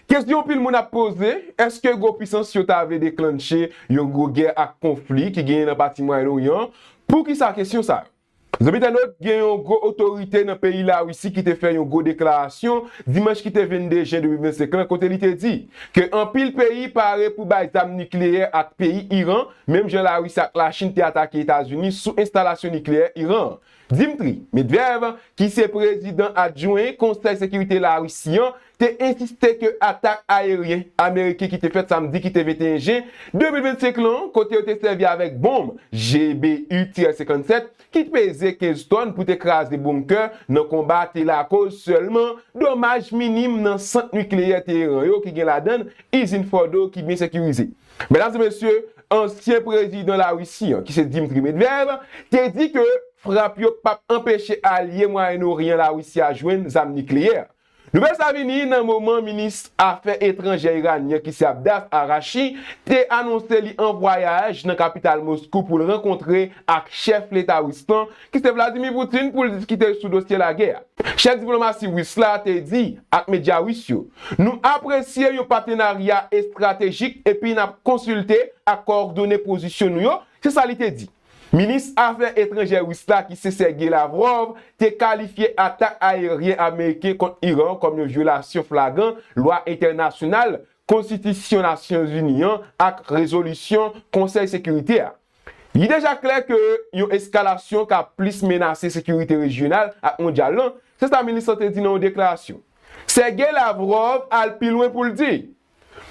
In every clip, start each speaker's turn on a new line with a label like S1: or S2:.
S1: Kesyon anpil moun ap poze, èske gwo pisans yo ta vle deklannche yon gwo gè ak konfli ki genyen nan pati Mwayen Oryan an? Poukisa kesyon sa yo? Zanmi entènot, gen yon gwo otorite nan peyi Larisi ki te fè yon gwo deklarasyon dimanch ki te 22 jen 2025 lan kote li te di ke anpil peyi pare pou bay zam nikleyè ak peyi Iran menm jan Larisi ak Lachin te atake Etazini sou enstalasyon nikleyè Iran an. Dmitry Medvedev ki se prezidan adjwen Konsèy Sekirite Larisi an te ensiste ke atak ayeryen ameriken ki te fèt samdi ki te 21 jen 2025 lan, kote yo te sèvi avèk bonm GBU-57 ki peze 15 tòn pou te kraze bonkè nan konba te lakoz sèlman domaj minim nan sant nikleyè Teheran yo ki gen ladann izin Fordo ki byen sekirize. Medam e mesye, ansyen prezidan Larisi an, ki se Dmitry Medvev, te di ke frap yo pap anpeche alye Mwayen Oryan Larisi a jwenn zam nikleyè. Nouvèl sa vini nan moman minis afè etranjè iranyen ki se Abdas Arachi te anonse li an vwayaj nan kapital Moskou pou l rankontre ak chèf leta ris lan ki se Vladimir Putin pou l diskite sou dosye lagè a. Chèf diplomasi ris la te di ak medya ris yo, Nou apresye yon patenarya estratejik epi n ap konsilte ak kowòdone pozisyon nou yo, se sa li te di. Minis Afè Etranjè Ris la ki se Sergei Lavrov te kalifye atak ayeryen ameriken kont Iran an kòm yon vyolasyon flagran lwa entènasyonal, konstitisyon Nasyonzini an ak rezolisyon Konsèy Sekirite a. Li deja klè ke yon eskalasyon ka plis menase sekirite rejyonal ak mondyal lan, se sa minis lan te di nan yon deklarasyon. Sergei Lavrov al pi lwen pou l di.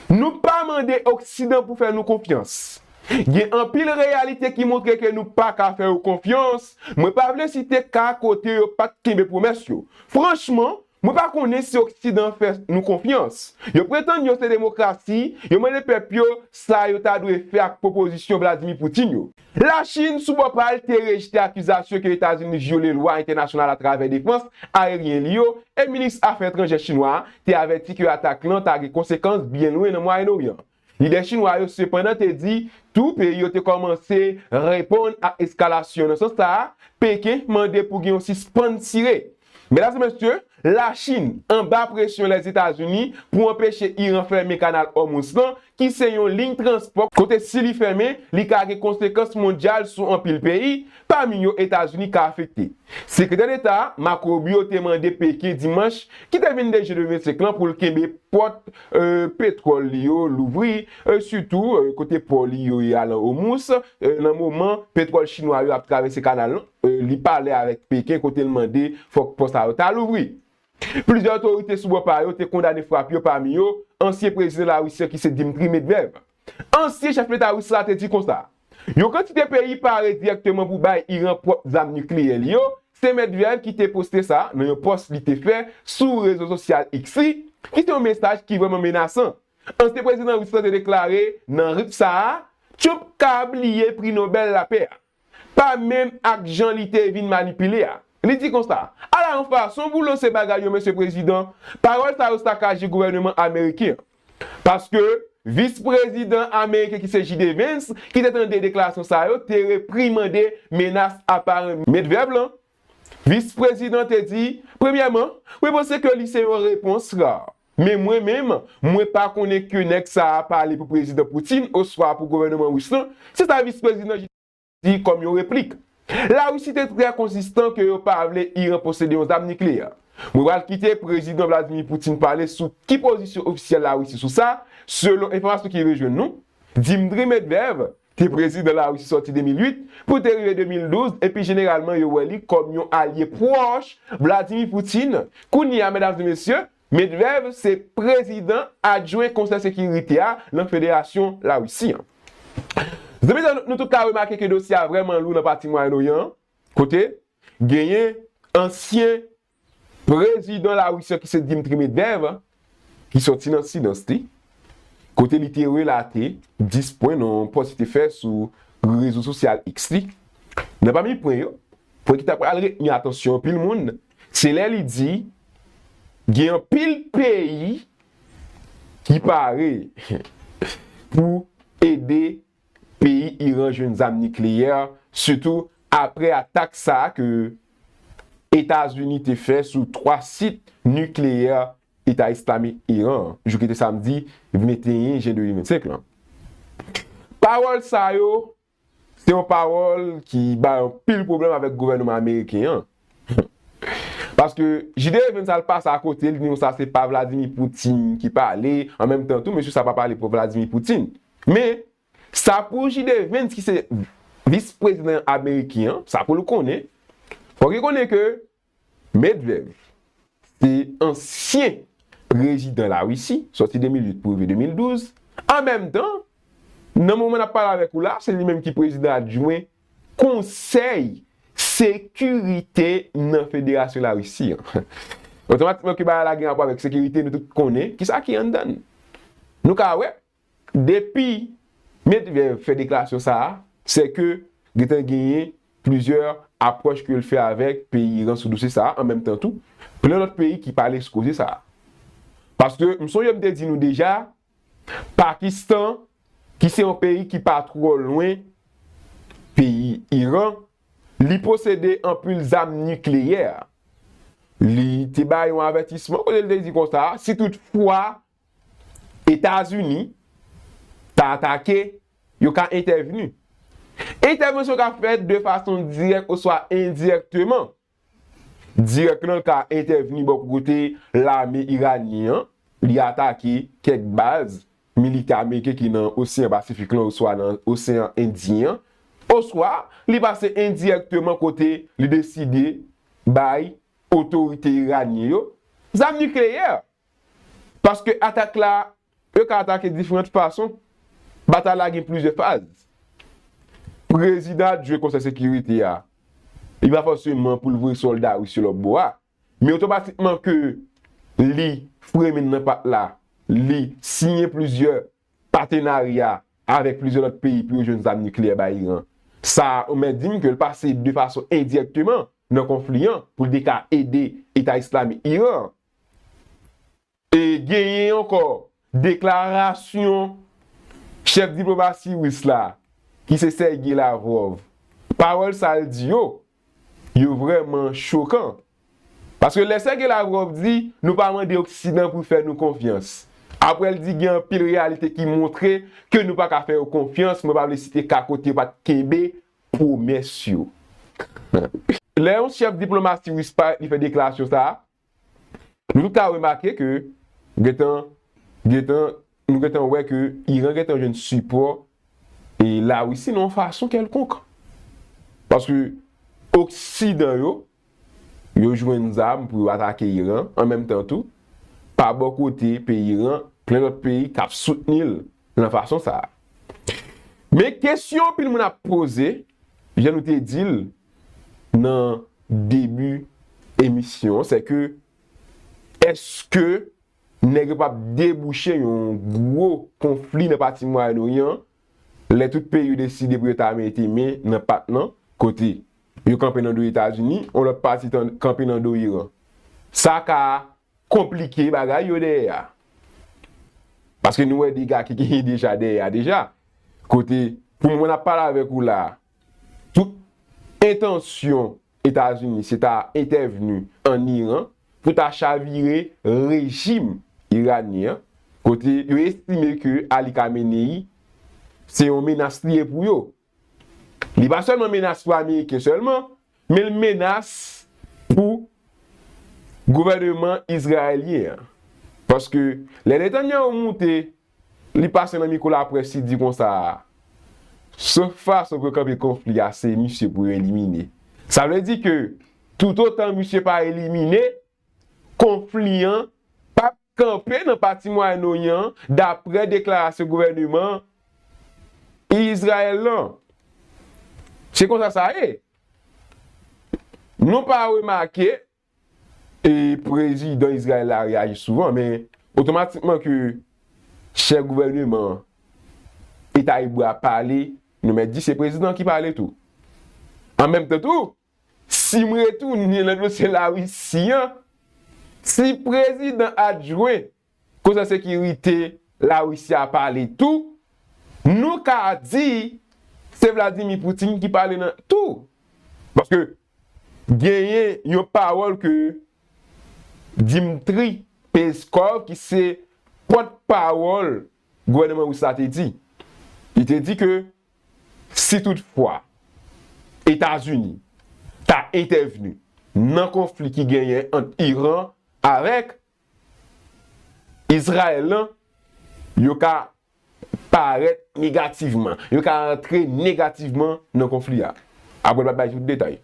S1: Nou pa mande oksidan pou fè nou konfyans. Gen anpil reyalite ki montre ke nou pa ka fè yo konfyans, mwen pa vle site ka kote yo pat kenbe pwomès yo. Franchman, mwen pa konnen si oksidan fè nou konfyans. Yo pretann yo se demokrasi, yo mande pèp yo sa yo ta dwe fè ak pwopozisyon Vladimir Putin yo. Lachin, sou bò pa l, te rejte akizasyon ke Etazini vyole lwa entènasyonal atravè defans ayeryen li yo, e minis afè etranjè chinwa a te avèti ke atak lan ta gen konsekans byen lwen nan Mwayen Oryan. Lidè chinwa yo sepandan te di tou peyi yo te kòmanse reponn ak eskalasyon nan sans sa a, Peken mande pou gen yon sispann tire. Medam e mesye, Lachin anba presyon Lèzetazini pou anpeche Iran fèmen Kanal Òmouz lan ki se yon liy transpò kote si li fèmen li ka gen konsekans mondyal sou anpil peyi, pami yo Etazini ka afekte. Sekretè Deta Marco Rubio te mande Peken dimanch ki te vin 2 jen 2025 lan pou l kenbe pòt petwòl li yo louvri, sitou kote pò li yo ye a lan Òmouz, nan moman petwòl chinwa yo ap travèse kanal lan. Li pale avèk Peken kote l mande fòk pò sa yo ta louvri. Plizyè otorite sou bò pa yo te kondane frap yo pami yo ansyen prezidan Larisi an ki se Dmtri Medvev. Ansyen chèf leta ris la te di konsa, Yon kantite peyi pare dirèkteman pou bay Iran pwòp zam nikleyè li yo, se Medvev ki te poste sa nan yon pòs li te fè sou rezo sosyal X li, ki se yon mesaj ki vrèman menasan. Ansyen prezidan ris la te deklare nan rit sa a, Trump ka bliye pri Nobèl lapè a. pa menm ak jan li te vin manipile a. Li di konsa, Ala yon fason pou lanse bagay yo Mesye Prezidan, pawòl sa yo sakaje gouvèneman ameriken an. Paske, Vis Prezidan ameriken ki se JD Vance ki te tande deklarasyon sa yo te reprimande menas aparan Medvev lan. Vis prezidan te di, Premyèman, mwen panse ke li se yon repons ra. Men mwen menm, mwen pa konnen ke nèg sa a pale pou Prezidan Putin oswa pou gouvèneman Ris lan, se sa Vis Prezidan Ji te di kòm yon replik. Larisi te trè konsistan ke yo pa vle Iran posede yon zam nikleyè. Mwen pral kite Prezidan Vladimir Putin pale sou ki pozisyon ofisyèl Larisi sou sa, selon enfòmasyon ki rive jwenn nou, Dimdri Medvev, te prezidan Larisi sòti 2008 pou te rive 2012 epi jeneralman yo wè li kòm yon alye pwòch Vladimir Putin, kounye a medam e mesye, Medvev se prezidan adjwen Konsèy Sekirite a nan Federasyon Larisi an. Zanmi sa yo nou tout ka remake ke dosye a vrèman lou nan pati Mwayen Oryan an kote genyen ansyen Prezidan Larisi an ki se Dmitry Medvedev ki sòti nan silans li kote li te relate 10 pwen nan yon pòs li te fè sou rezo sosyal X li. Nan pami pwen yo, pwen ki ta pral retni atansyon anpil moun se lè li di gen anpil peyi ki pare pou ede Peyi Iran jwenn zam nikleyè sitou apre atak sa a ke Etazini te fè sou 3 sit nikleyè Eta Islamik Iran an jou ki te samdi 21 jen 2025 lan. Pawòl sa yo se yon pawòl ki bay anpil pwoblèm avèk gouvènman ameriken an. Paske JD Evens al pase a kote li di nou sa se pa Vladimir Poutine ki pale, an menm tan tou mesye sa pa pale pou Vladimir Poutine. Men, sa pou JD Evens ki se vis prezidan ameriken an, sa pou l konnen, fòk li konnen ke Medvev se ansyen prezidan Larisi, sòti 2008 pou rive 2012, an menm tan, nan moman n ap pale avèk ou la, se li menm ki prezidan adjwen Konsèy Sekirite nan Federasyon Larisi an. Otomatikman ke bagay la gen rapò avèk sekirite, nou tout konnen ki sa ki anndan l. Nou ka wè, depi Medvedev fè deklarasyon sa a, sè ke gentan genyen plizyè apwòch ke l fè avèk peyi Iran sou dosye sa a, an menm tan tou, plen lòt peyi ki pale sou koze sa a. Paske, m sonje m te di nou deja, Pakistan, ki se yon peyi ki pa twò lwen peyi Iran, li posede anpil zam nikleyè. Li te bay yon avètisman kote li te di konsa, si tout fwa Etazini ta atake, yo ka entèvni. Entèvansyon ka fèt de fason dirèk oswa endirèkteman. Dirèk lan ka entèvni bò kote lame iranyen an, li atake kèk baz militè ameriken ki nan Oseyan Pasifik lan oswa nan Oseyan Endyen an, oswa li pase endirèkteman kote li deside bay otorite iranyen yo zam nikleyè, paske atak la Yo ka atake diferant fason. Batay la gen plizyè faz. Prezidan ap jwe Konsèy Sekirite a. Li pa fòseman pou l voye sòlda ris yo lòt bò a. Men otomatikman ke li fremin nan pat la, li siyen plizyè patenarya avèk plizyè lòt peyi pou yo jwenn zam nikleyè bay Iran. Sa a ou mèt di m ke l pase de fason endirèkteman nan konfli an pou l te ka ede Eta Islamik Iran an. E genyen ankò deklarasyon chèf diplomasi ris la ki se Sergey Lavrov. Pawòl sa l di yo, yo vrèman chokan. Paske lè Sergey Lavrov di nou pa mande oksidan pou fè nou konfyans. Aprè l di gen anpil reyalite ki montre ke nou pa ka fè yo konfyans, mwen pa vle site ka kote yo pa t kenbe pwomès yo. Lè yon chèf diplomasi ris parèt li fè deklarasyon sa, Nou tout ka remake ke gentan gentan nou gentan wè ke Iran gentan jwenn sipò e Larisi nan yon fason kèlkonk. Paske oksidan yo, yo jwenn zam pou yo atake Iran an menm tan tou pa bò kote peyi Iran plen lòt peyi kap soutni l. Nan fason sa a. Men kesyon anpil moun ap poze, jan nou te di l nan debi emisyon an, se ke eske nèg yo pap debouche yon gwo konfli nan pati Mwayen Oryan an, lè tout peyi yo deside pou yo ta mete men nan pat lan, kote yo kanpe nan do Etazini, yon lòt pati kanpe nan do Iran. Sa ka Konplike bagay yo dèyè a. Paske nou wè dega ki genyen deja dèyè a deja. Kote pou mwen ap pale avèk ou la a, tout entansyon Etazini se ta entèvni an Iran pou ta chavire rejim iranyen an. Kote yo estime ke Ali Khamenei se yon menas li ye pou yo. Li pa sèlman menas pou ameriken sèlman, men l menas pou gouvèneman izrayelyen an. Paske lè Netanyahu moute, li pase nan miko laprès li di konsa, sèl fason pou yo kanpe konfli a se misye pou yo elimine. Sa vle di ke toutotan misye pa elimine, konfli an p ap kanpe nan pati Mwayen Oryan an, daprè deklarasyon gouvèneman Izrayèl lan. Se konsa sa ye. Nou pa remake, e prezidan Izrayèl la reyaji souvan, men otomatikman ke chèf gouvèneman Eta Ebre a pale, nou mèt di se prezidan ki pale tou. An menm tan tou, Sim retounen nan dosye la russie an si prezidan adjwen konsa sekirite la russie a pale tou nou ka di se vladimir poutine ki pale nan tou paske genyen yon pawòl ke dimtri peskov ki se pòt pawòl gouvèneman rus la te di li te di ke Si tout fwa Etazini ta entèvni nan konfli ki genyen ant Iran avèk Izrayèl lan, yo ka parèt negativman, yo ka antre negativman nan konfli a. Apre l pa t bay tout detay.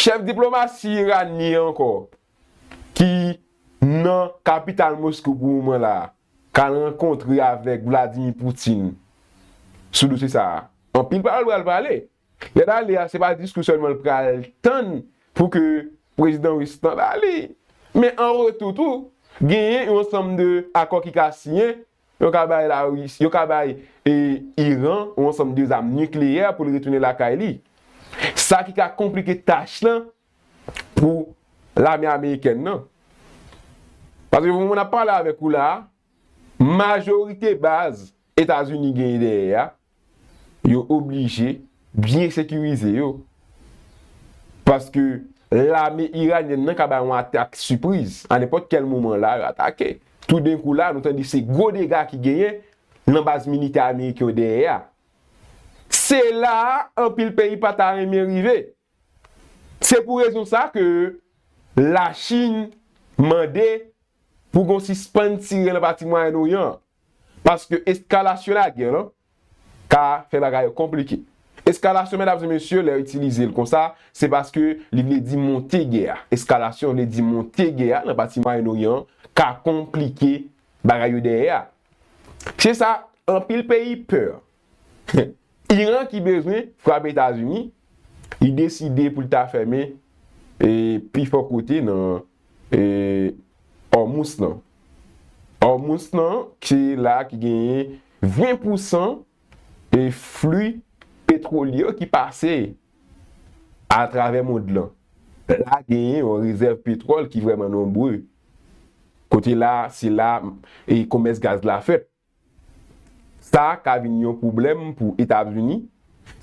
S1: Chèf diplomasi iranyen ankò ki nan kapital Moskou pou moman la a. ka rankontre avèk Vladimir Putin sou dosye sa a. Anpil pawòl pral pale. Lè l ale a, se pa diskou sèlman l pral tann pou ke prezidan ris lan ba li, men an retou tou, genyen yon ansanm de akò ki ka siyen, yo ka bay Larisi, yo ka bay Iran yon ansanm de zam nikleyè pou l retounen lakay li. Sa ki ka konplike tach lan pou lame amerikèn nan. Paske pou mwen ap pale avèk ou la a, majorite baz Etazini genyen dèyè a, yo oblije byen sekirize yo. Paske lame iranyèn nan ka bay yon atak sipriz, a nenpòt kèl moman la yo atake. Toudenkou la a, nou tande se gwo dega ki genyen nan baz militè ameriken yo dèyè a. Se la a anpil peyi pa ta renmen rive. Se pou rezon sa ke La Chin mande pou gon sispann tire nan pati Mwayen Oryan an, paske eskalasyon lagè lan ka fè bagay yo konplike. Eskalasyon medam e mesye lè yo itilize l konsa se paske li vle di monte gè a. Eskalasyon vle di monte gè a nan pati Mwayen Oryan an ka konplike bagay yo dèyè a. Se sa anpil peyi pè. Iran ki bezwen frape Etazini, li deside pou l ta fèmen pi fò kote nan Òmous lan. Òmous lan se la ki genyen 20 pousan fli petwolye yo ki pase atravè mond lan. La genyen yon rezèv petwòl ki vrèman nonbre. Kote la, se la komès gaz la fèt. Sa ka vin yon pwoblèm pou Etazini,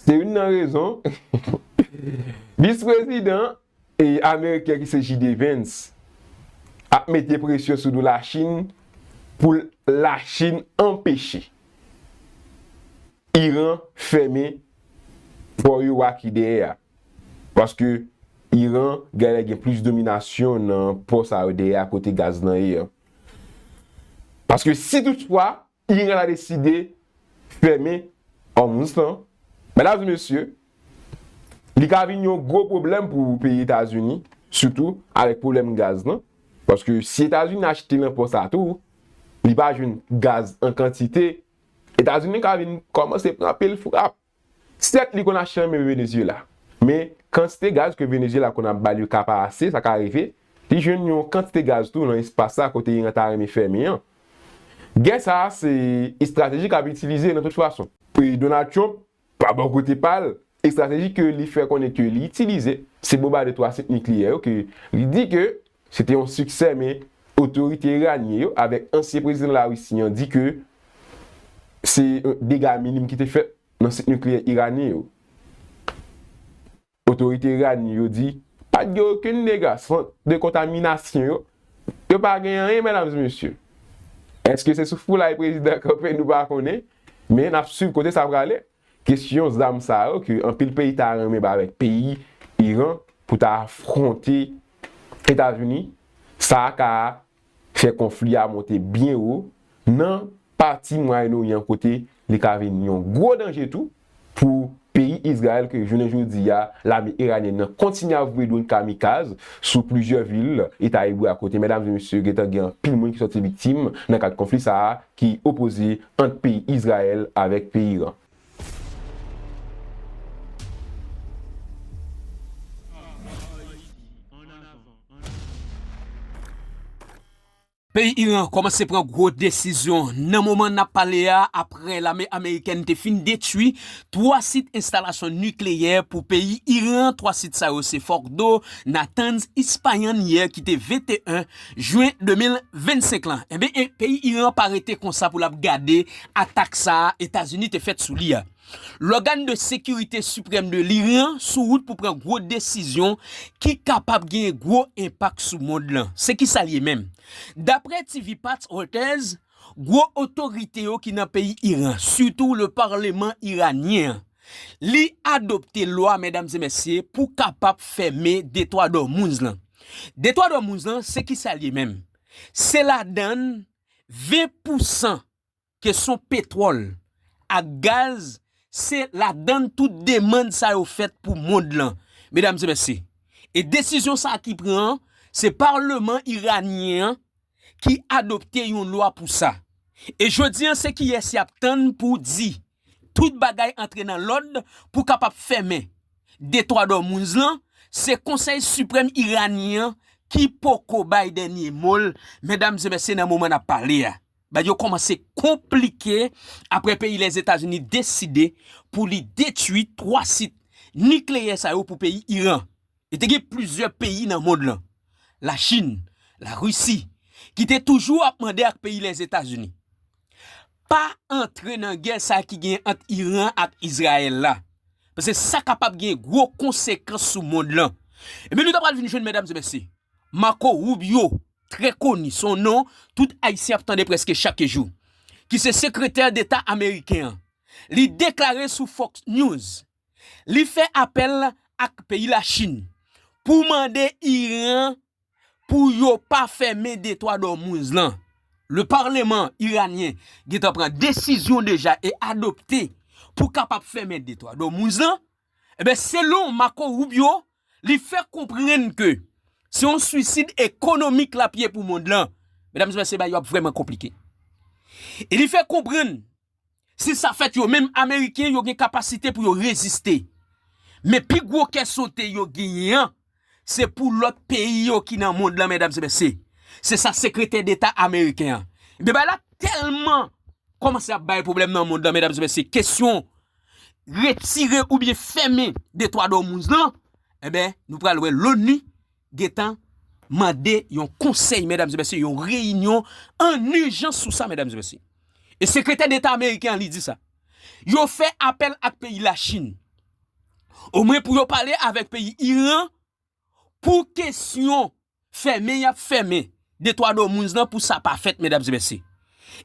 S1: se youn nan rezon Vis Prezidan Ameriken ki se JD Vance ap mete presyon sou do Lachin pou Lachin anpeche Iran fèmen pò yo a ki dèyè a. Paske Iran gèlè gen plis dominasyon nan pò sa yo dèyè a kote gaz lan ye an. Paske si tout fwa Iran ta deside fèmen Hormuz lan, medam e mesye, li ka vin yon gwo pwoblèm pou peyi Etazini, sitou avèk pwoblèm gaz lan. Paske si Etazini achte nan pò sa tou, li pa jwenn gaz an kantite, Etazini ka vin kòmanse pran pil frap. Sèt li konn achte anmè Venezyela, men kantite gaz ke Venezyela konn ap bal yo ka pa ase, sa ka rive li jwenn yon kantite gaz tou nan espas sa kote Iran ta renmen fèmen an. Gè sa a se estrateji kap itilize nan tout fason. Donald Trump, pa bò kote pa l, estrateji ke li fè konnen ke li itilize, se bonbade 3 sit nikleyè yo ke li di ke Se te yon siksè men otorite iranyen yo avèk ansyen prezidan Larisi an di ke se dega minim ki te fèt nan sit nikleyè iranyen yo. Otorite iranyen yo di pa t gen okenn dega, sant de kontaminasyon yo, yo pa gen anyen medam e mesye. Eske se sou foulay prezidan kanpe nou pa konnen men n ap swiv kote sa prale. Kesyon zam sa yo ke anpil peyi ta renmen bay avèk peyi Iran pou ta afronte Etazini, sa a ka fè konfli a monte byen wo nan pati Mwayen Oryan kote li ka vin yon gwo danje tou pou peyi Izrayèl ke jounen jodi a lame Iranyèn nan kontinye ap voye dronn kamikaz sou plizyè vil Eta Ebre a kote medam e mesye gentan gen anpil moun ki sòti viktim nan kad konfli sa a ki opoze ant peyi Izrayèl avèk peyi Iran.
S2: Peyi Iran kòmanse pran gwo desizyon nan moman n ap pale a aprè lame amerikèn te fin detwi 3 sit enstalasyon nikleyè pou peyi Iran. 3 sit sa yo se Fordow, Natanz, Ispayan yè ki te 21 Jwen 2025 lan. Enben e peyi Iran pa rete konsa pou lap gade atak sa a Etazini te fèt sou li a. Lògan de sekirite siprèm de lryan sou wout pou pran gwo desizyon ki kapab genyen gwo enpak sou mond lan. Se ki sa l ye menm? Daprè TV Pat Reuters, gwo otorite yo ki nan peyi Iran, sitou le parleman iranyen an, Li adopte lwa medam e mesye pou kapap fème detwa dormounz lan. Detwa dormounz lan se kisal ye menm? Se ladann 20 pousan ke son petwol ak gaz se ladann tout demand sa yo fèt pou mond lan medam e mesye. E desizyon sa ki pran an se parleman iranyen an ki adopte yon lwa pou sa. E jodi an se kiyes yap tann pou di tout bagay antre nan lòd pou kapab fèmen Detwa Dòmounz lan, se Konsèy Siprèm Iranyen an ki poko bay dènye mo l, medam e mesye nan moman n ap pale a, bagay yo kòmanse konplike apre peyi Lèzetazini deside pou li detui 3 sit nikleyè sa yo pou peyi Iran. E te gen plizyè peyi nan mond lan, Lachin, Larisi, ki te toujou ap mande ak peyi Lèzetazini, Pa antre nan gè sa ki gen ant Iran ak Izrayèl la, paske sa kapab gen gwo konsekans sou mond lan. Ebyen nou ta pral vin jwenn medam e mesye, Marco Rubio, trè koni, son non tout Ayisyen ap tande prèske chak jou, ki se sekretè deta ameriken an, li deklare sou Fox News, li fè apèl ak peyi Lachin pou mande Iran pou yo pa fèmen Detwa Dòmouz lan. Le parleman iranyen gentan pran desizyon deja e adopte pou kapab fèmen Detwa Dòmouz lan. Enben, selon Marco Rubio, li fè konprann ke se yon suisid ekonomik l ap ye pou mond lan. Medam e mesye, bagay yo ap vrèman konplike. E li fè konprann Si sa fèt yo menm ameriken yo gen kapasite pou yo reziste. Men pi gwo kè sote yo genyen an se pou lòt peyi yo ki nan mond lan medam se mesye. Se sa sekretè deta ameriken an. Ebyen bagay la tèlman kòmanse ap bay pwoblèm nan mond lan medam se mesye kesyon retire oubyen fèmen detwa dòmouz lan enben nou pral wè loni gentan mande yon konsèy medam e mesye yon reyinyon an ijans sou sa medam e mesye e sekretè deta ameriken an li di sa yo fè apèl ak peyi la chin o mwen pou yo pale avèk peyi iran pou kesyon fèmen yap fèmen de twa do moun zan pou sa pa fèt medam e mesye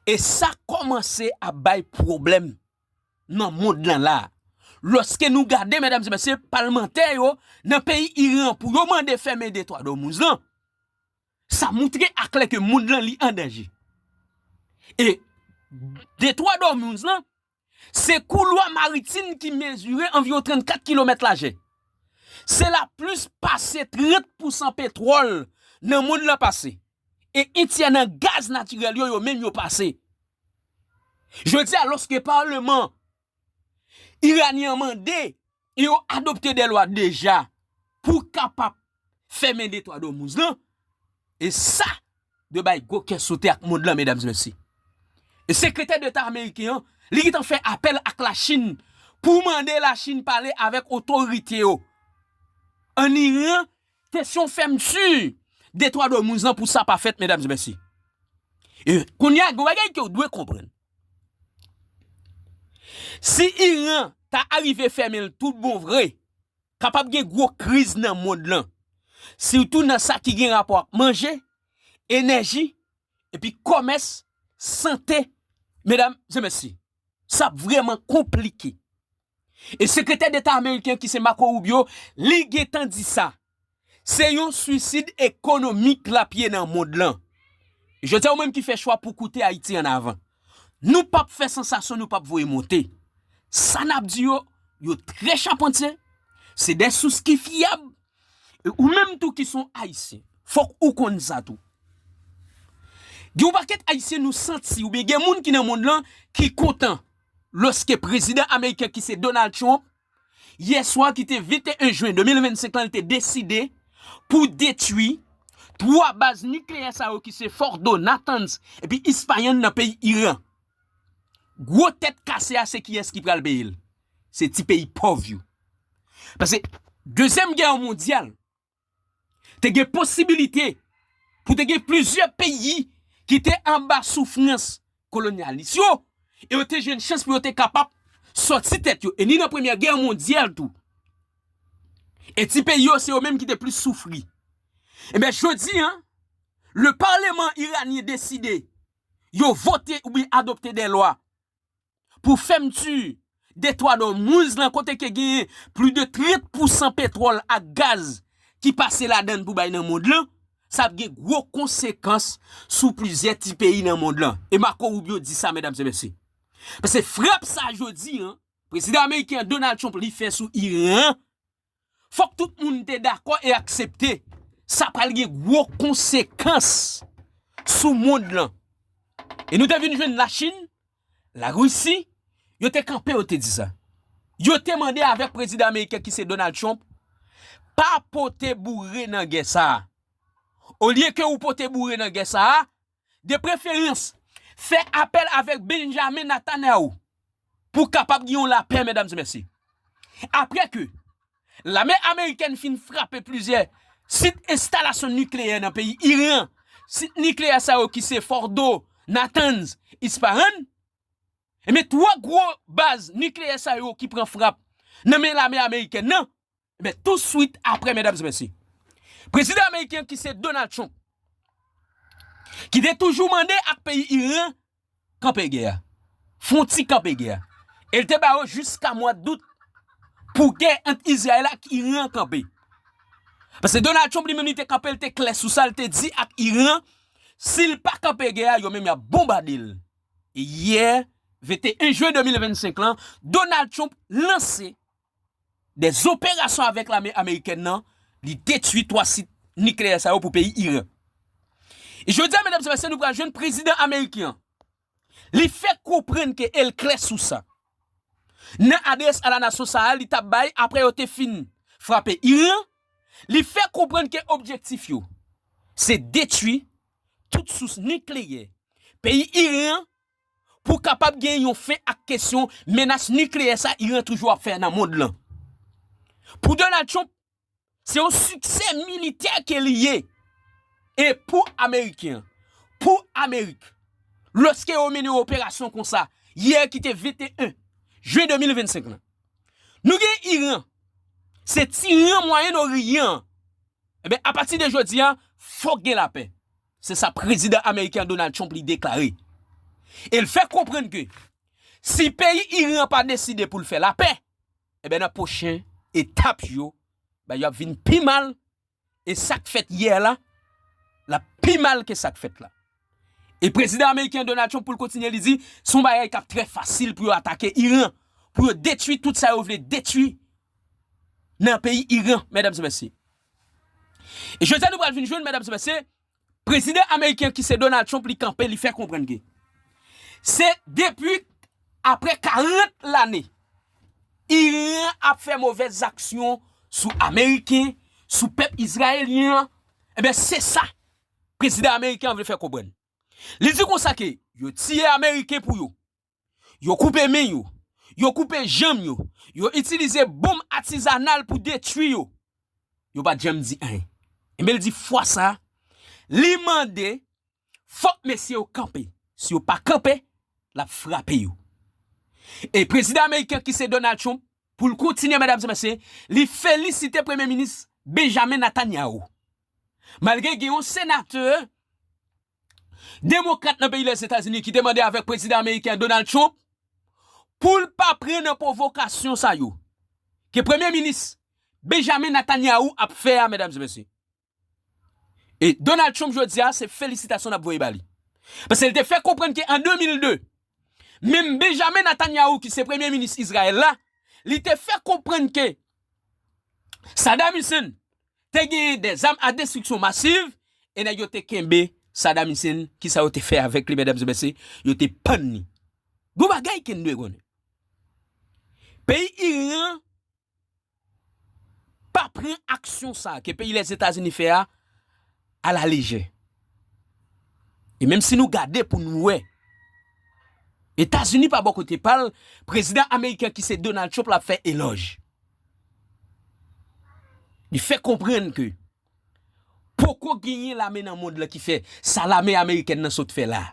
S2: e sa kòmanse ap bay pwoblèm nan mond lan la. Loske nou gade medam se mesye palmantè yo nan peyi Iran pou yo mande fèmen de twa domouz lan. Sa moutre aklè ke mond lan li an danje. E de twa domouz lan se kou lwa maritim ki mezire anviron 34 kilomèt laje. Se la plis pase 30 pousan petwòl nan mond lan pase. E entyè nan gaz natirèl yo yo menm yo pase. Jodi a loske parleman Iranyen an mande e yo adopte de lwa deja pou kapap fèmen de twa domouz lan, e sa dwe bay gwo kè sote ak mond lan medam e mesye. E sekretè deta ameriken an li gentan fè apèl ak la Chin pou mande la Chin pale avèk otorite yo an Iran Kesyon fèmti de twa do moun zan pou sa pa fèt medam e mesye. E kounye a gen bagay ke ou dwe konprann. Si Iran ta arive fèmen l tout bon vre, kapab gen gwo kriz nan mond lan. Sitou nan sa ki gen rapò ak manje, enèji, epi kòmès, sante, medam e mesye. Sa ap vreman konplike. E sekretè deta ameriken ki se Marco Rubio li gentan di sa. Se yon swisid ekonomik lap ye nan mond lan. Jodi a ou menm ki fè chwa pou koute Ayiti an avan. Nou pap fè sansasyon nou pap voye monte. Sa nap di yo, yo trè chapantye, se de sous ki fyab. E ou menm tou ki son ayisyen, fok ou konn sa tou. Gen yon pakèt ayisyen nou santi oubyen gen moun ki nan mond lan ki kontan lòske prezidan ameriken ki se Donald Trump, yè swa ki te 21 jwen 2025 lan li te deside pou detwi 3 baz nikleyè sa yo ki se Fordo, Natanz epi Isfahan nan peyi Iran. Gwo tèt kase a se kiyès ki pral peye l? Se ti peyi pòv yo. Pase dezyèm gè mondyal te gen posibilite pou te gen plizyè peyi ki te anba soufrans kolonyalis yo, e yo te jwenn chans pou yo te kapab sòti tèt yo, e ni nan premyè gè mondyal tou. E ti peyi yo se yo menm ki te plis soufri. Enben jodi an, le parlement iranien deside yo vote oubyen adopte de lwa pou fèmti Detwa d'Ormuz lan kote ke genyen pli de 30 pousan petwòl ak gaz ki pase ladann pou bay nan mond lan, sa ap gen gwo konsekans sou plizyè ti peyi nan mond lan. E Marco Rubio di sa medam e mesye. Pase frap sa jodi an, prezidan ameriken an Donald Trump li fè sou Iran an, Fòk tout moun te dakò e aksepte sa pral gen gwo konsekans sou mond lan. E nou te vin jwenn Lachin, Larisi, yo te kanpe yo te di sa. Yo te mande avèk prezidan ameriken ki se Donald Trump, pa pote boure nan gè sa a. Olye ke ou pote boure nan gè sa a, De preferans, fè apèl avèk Benjamin Natanau pou kapab gen yon lapè, medam e mesye. Apre ke lame amerikèn fin frape plizyè sit enstalasyon nikleyè nan peyi Iran, sit nikleyè sa yo ki se Fordo, Natanz, Ispahan, enben 3 gwo baz nikleyè sa yo ki pran frap nan men lame amerikèn nan, Ebyen tou swit apre medam se mesye. Prezidan ameriken ki se Donald Trump. Ki te toujou mande ak peyi Iran kanpe gè a. Fon ti kanpe gè a. El te ba yo jiska mwa dout pou gè ant Izrayel ak Iran kanpe. Pase Donald Trump li menm li te kanpe li te kle sou sa li te di ak Iran si li pa kanpe gè a yo menm yap bonbade l. E yè 21 jwen 2025 lan Donald Trump lanse de zoperasyon avèk lame amerikèn nan, li detwi 3 sit nikleyè sa yo pou peyi Iran. E jodi a medam se mesye nou pral jwenn prezidan ameriken an. Li fè konprann ke el klè sou sa. Nan adrès a la nasyon sa a li tap bay apre yo te fin frape Iran, li fè konprann ke objektif yo se detwi tout sous nikleyè peyi Iran pou kapab gen yon fen ak kesyon menas nikleyè sa Iran toujou ap fè nan mond lan. Pou Donald Trump, se yon siksè militè ke li ye. E pou Ameriken, pou Amerik, lòske yo mennen yon operasyon konsa, yè ki te 21 jen 2025 lan, nou gen Iran, se tiran Mwayen Oriyan an, enben apati de jodi a, fòk gen lapè. Se sa Prezidan Ameriken an Donald Trump li deklare. E l fè konprann ke si peyi Iran an pa deside pou l fè lapè, enben nan pwochen etap yo, bagay yo ap vin pi mal e sa k fèt yè la, l ap pi mal ke sa k fèt la. E Prezidan Ameriken an Donald Trump pou l kontinye li di, se yon bagay k ap trè fasil pou yo atake Iran, pou yo detwi tout sa yo vle detwi nan peyi Iran, medam e mesye. E jodi a nou pral vin jwenn medam se mesye, prezidan ameriken ki se Donald Trump li kanpe li fè konprann ke se depi apre 40 lane Iran ap fè movèz zaksyon sou ameriken, sou pèp izrayelyen an, enben se sa prezidan ameriken an vle fè konprann. Li di konsa ke yo tiye ameriken pou yo, Yo koupe men yo. Yo koupe janm yo. Yo itilize bonm atizanal pou detwi yo. Yo pa t janm di anyen. Enben l di fwa sa a, li mande fòk mesye yo kanpe. Si yo pa kanpe, l ap frape yo. E prezidan ameriken an ki se Donald Trump, pou l kontinye medam e mesye, li felisite premye minis Benjamin Netanyahu. Malgre gen yon senatè Demokrat nan peyi Lèzetazini ki te mande avèk Prezidan Ameriken Donald Trump pou l pa pran nan pwovokasyon sa yo ke Premye Minis Benjamin Netanyahu ap fè a medam e mesye. E Donald Trump jodi a se felisitasyon n ap voye ba li. Paske l te fè konprann ke an 2002 menm Benjamin Netanyahu ki se Premye Minis Izrayèl la li te fè konprann ke Saddam Hussein Te genyen des armes à destruction massive e nèg yo te kenbe Saddam Hussein kisa yo te fè avèk li medam e mesye yo te pann li gon bagay ken dwe konnen peyi Iran pa pran aksyon sa ke peyi lèzetazini fè a a la lejè e menm si nou gade pou nou wè etazini pa bò kote pal prezidan ameriken ki se Donald Trump la fè elòj. Li fè konprann ke poko genyen lame nan mond lan ki fè sa lame amerikèn nan sot fè la a.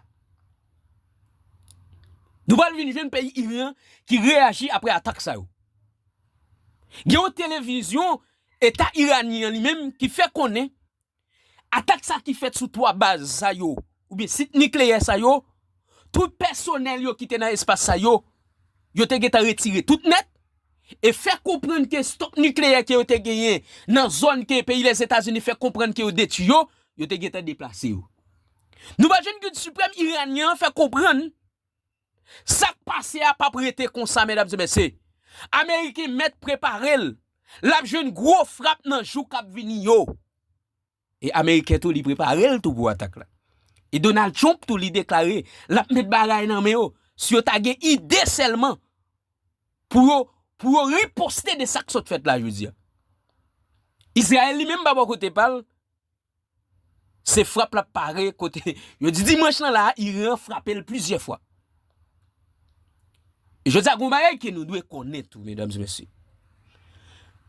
S2: Nou pral vin jwenn peyi Iran ki reyaji apre atak sa yo. Gen yon televizyon eta iranyen an li menm ki fè konnen Atak sa ki fèt sou 3 baz sa yo oubyen sit nikleyè sa yo, tout pèsonèl yo ki te nan espas sa yo, yo te gentan retire tout nèt e fè konprann ke stòk nikleyè ke yo te genyen nan zòn ke peyi Lèzetazini fè konprann ke yo detwi yo, yo te gentan deplase yo. Nouvo Jèn Gid Siprèm Iranyen an fè konprann. Sak pase a pap rete konsa medam se mesye. Ameriken met preparel lap jwenn gwo frap nan jou kap vini yo. E ameriken tou li preparel tou pou atak la. E Donald Trump tou li deklare lap met bagay nan men yo si yo ta gen ide selman pou yo pou yo riposte de sak sot fet la jodi a. Israel li menm pa bò kote pal Se frap lap pare kote yo di dimanch lan la a Iran frape l plizyè fwa. Jodi a gen yon bagay ke nou dwe konnen tou medam e mesye.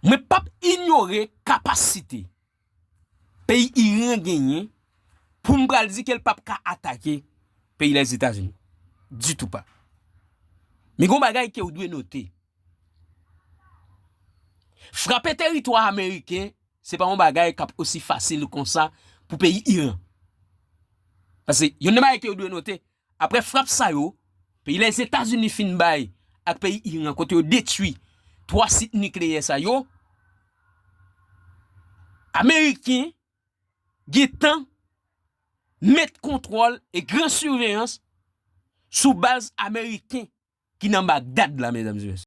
S2: Mwen pap inyore kapasite peyi Iran genyen pou m pral di ke l pap ka atake peyi Lèzetazini. Ditou pa. Men gen yon bagay ke ou dwe note. Frape teritwa Ameriken. Se pa yon bagay kap osi fasil konsa pou peyi Iran. Pase yon nan bagay ke yo dwe note, apre frap sa yo, peyi Lèzetazini fin bay ak peyi Iran kote yo detwi 3 sit nikleyè sa yo, Ameriken gentan met kontwòl e gran siveyans sou baz Ameriken ki nan Bagdad la, medam e mesye.